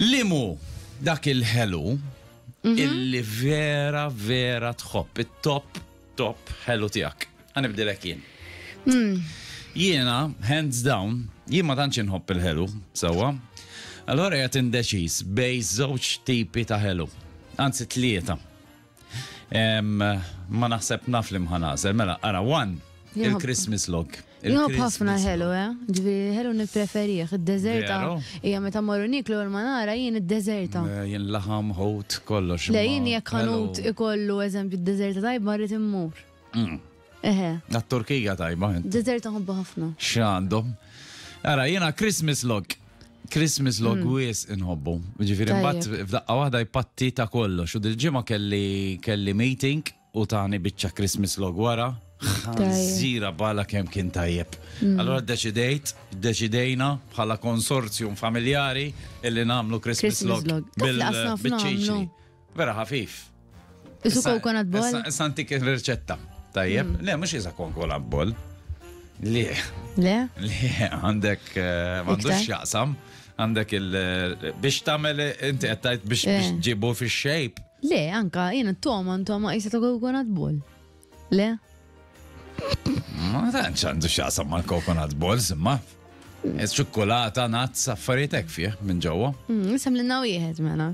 Li mhu dak il-ħelu illi vera vera tħobb it-top top ħelu tiegħek? Ħanibdilek jien. Hmm. Jiena, hands down, jien ma tantx inħobb il-ħelu, sewwa. Allora qed indeċiż bej żewġ tipi ta' ħelu. Anzi tlieta. Ma naħseb naf li mħanażel, mela, ara, one, il-Christmas log. Jħob ħafna ħelu, eh? Ġvi, ħelu nipreferieħ, id-dezerta. Ija meta morru niklu l-manara, jien id-dezerta. Eh, jien laħam, ħut, kollox. Le, jien jek ħanut ikollu eżempju id-dezerta tajb marrit immur. Mm. Eħe. Għat-Turkija tajba. Dessert nħobbu ħafna. X'għandhom. Ara, jiena Christmas log. Christmas log mm. wis inħobbu. Ġifiri, mbatt f'daqqa wahda jpatti ta' kollox. U dil ġimma kelli kelli meeting u tani bicċa Christmas log wara. Zira bala kem kien tajjeb. Mm. Allora deċidejt, deċidejna bħala konsorzjum familjari illi namlu Christmas, Christmas log. Bil-ċiċi. Vera ħafif. Isu coconut ball? Issa antik il-reċetta. Tajjeb, mm. le, mux iża coconut ball. Le. Le? Le, għandek, eh, għandux jaqsam, għandek il- eh, biex tamel, eh, inti għattajt biex ġibu fi xejp. Le, anka, jena t-toma, t-toma, jisa ta' coconut ball. Le? Ma tanċ għandu xaqsam ma' coconut balls, ma' ċokkolata, nazz, affaritek fih minn ġewwa. Mm, Sem l-naw jieħed mena.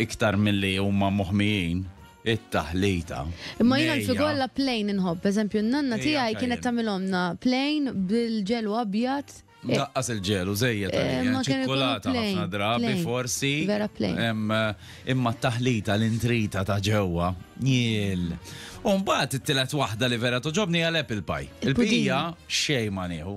iktar milli huma moħmijin, it-taħlita. Imma jiena l-figu alla plain inħobb, eżempju, n-nanna tiegħi kienet tagħmilhomna plain bil-ġelu abjad. Eh, Daqqas il-ġelu, zejja tal eh, eh, ċikkulata ħafna drabi, forsi. Vera plain. Imma t-taħlita l-intrita ta' ġewwa, jiel. Umbat it-tilet waħda li vera toġobni għal apple pie. Il-pija xej ma nieħu.